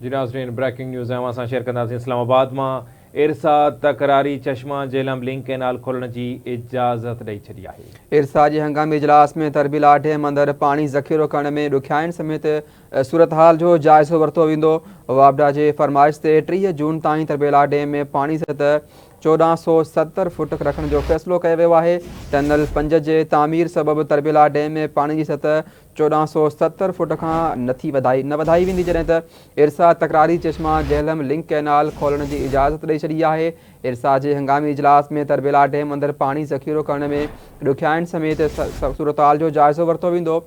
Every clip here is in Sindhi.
جي ناظرين بريڪنگ نيوز اوهان سان شيئر ڪنداسين اسلام آباد مان ارسا تڪراري چشما جهلم لنڪ ڪئنال کولڻ جي اجازت ڏئي ڇڏي آهي. ارسا جي هنگامي اجلاس ۾ تربيلا ڊيم اندر پاڻي ذخيرو ڪرڻ ۾ ڏکيائين سميت صورتحال جو جائزو ورتو ويندو، واپڊا جي فرمائش تي ٽيهه جون تائين تربيلا ڊيم ۾ پاڻي سطح چوڏهن سؤ ستر فوٽ رکڻ جو فيصلو ڪيو ويو آهي، ٽنل پنج جي تعمير سبب تربيلا ڊيم ۾ پاڻي جي سطح چوڏهن سؤ ستر فوٽ کان نه ٿي وڌائي نه وڌائي ويندي جڏهن ته ارسا تڪراري چشما جهلم لنڪ ڪئنال کولڻ جي اجازت ڏئي ڇڏي آهي ارسا جي هنگامي اجلاس ۾ تربيلا ڊيم اندر پاڻي ذخيرو ڪرڻ ۾ ڏکيائين سميت صورتحال جو جائزو ورتو ويندو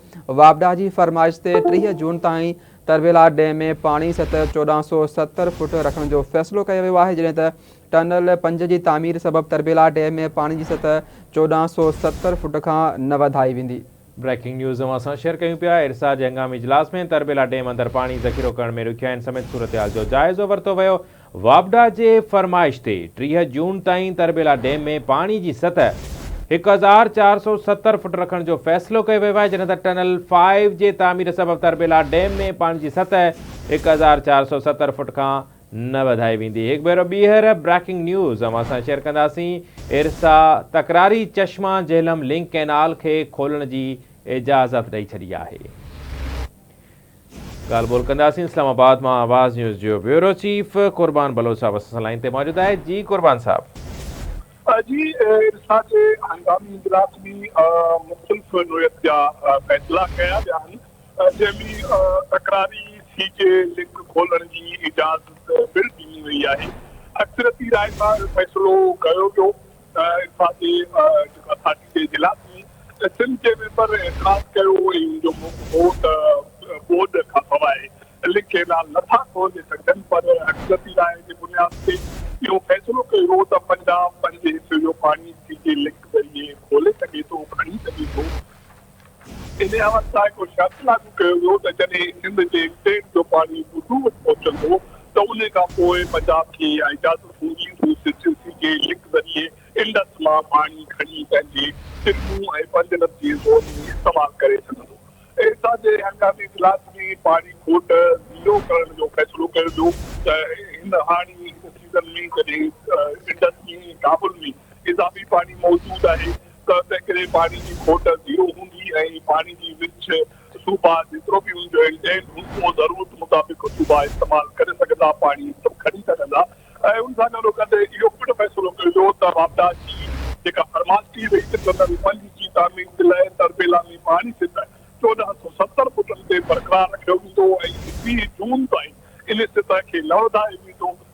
واپڊا جي فرمائش تي ٽيهه جون تائين تربيلا ڊيم ۾ پاڻي سطح چوڏهن سؤ ستر فوٽ رکڻ جو فيصلو ڪيو ويو آهي جڏهن ته ٽنل پنج جي تعمير سبب تربيلا ڊيم ۾ پاڻي جي سطح چوڏهن سؤ ستر فوٽ کان نه وڌائي ويندي بريڪنگ نيوز اوهان سان شيئر ڪيون پيا، ارسا جي هنگامي اجلاس ۾ تربيلا ڊيم اندر پاڻي ذخيرو ڪرڻ ۾ ڏکيائين سميت صورتحال جو جائزو ورتو ويو، واپڊا جي فرمائش تي ٽيهه جون تائين تربيلا ڊيم ۾ پاڻي جي سطح هڪ هزار چار سؤ ستر فٽ رکڻ جو فيصلو ڪيو ويو آهي جڏهن ته ٽنل فائيو جي تعمير سبب تربيلا ڊيم ۾ پاڻي جي سطح هڪ هزار چار سؤ ستر فٽ کان نه وڌائي ويندي. هڪ ڀيرو ٻيهر بريڪنگ نيوز اوهان سان شيئر ڪنداسين. ارسا تڪراري چشما جهلم لنڪ ڪئنال کي کولڻ جي اجازت ڏئي ڇڏي آهي. ڳالهه ٻولهه ڪنداسين. اسلام آباد مان آواز نيوز جو بيورو چيف قربان بلوچ صاحب اسان سان لائين تي موجود آهي. جي قربان صاحب. جي ارسا جي هنگامي اجلاس ۾ مختلف نوعيت جا فيصلا ڪيا ويا آهن. جنهن ۾ تڪراري سي جي لنڪ کولڻ جي اجازت پڻ ڏني وئي آهي. اڪثريتي راء سان اهو فيصلو ڪيو ويو ته انصاف جي جيڪا پارٽي جي اجلاس ۾ سنڌ جي ميمبر اعتراض ڪيو ۽ ان جو موقف هو ته ٻوڏ کانسواء لنڪ اعلان نٿا کولي سگهجن پر اڪثريتي راء جي بنياد تي اهو فيصلو ڪيو ويو ته پنجاب پنهنجي حصي جو پاڻي سي جي لنڪ ذريعي کولي سگهي ٿو کڻي سگهي ٿو. انهيء وقت لاء ڪو شرط لاڳو ڪيو ويو ته جڏهن سنڌ جي ٽيم جو پاڻي ڀٽو وٽ پهچندو ته انهيء کان پوء پنجاب کي اها اجازت هوندي ته هو سرجنسي جي لنڪ ذريعي انڊس مان پاڻي کڻي پنهنجي سنڌو ۽ پنجنب جي زون ۾ استعمال ڪري سگهندو. ايسا جي هنگامي اجلاس ۾ پاڻي کوٽ زيرو ڪرڻ جو فيصلو ڪيو ويو ته هن هاڻي سيزن ۾ جڏهن انڊس ۾ ۽ ڪابل ۾ اضافي پاڻي موجود آهي ته تنهنڪري پاڻي جي کوٽ زيرو هوندي ۽ پاڻي جي ورڇ صوبا جيترو به ان جو انٽينڊ هوندو اهو ضرورت مطابق صوبا استعمال ڪري سگهندا پاڻي کڻي سگهندا ۽ ان سان ڳالهو ڪندي اهو پڻ فيصلو ڪيو ويو ته واپڊا جي جيڪا فرماش ڪئي وئي ته ٽنل پنج جي تعمير جي لاء تربيلا ۾ پاڻي سٽ چوڏهن سؤ ستر فٽن تي برقرار رکيو ويندو ۽ ٻي جون تائين ان سطح کي نه وڌايو ويندو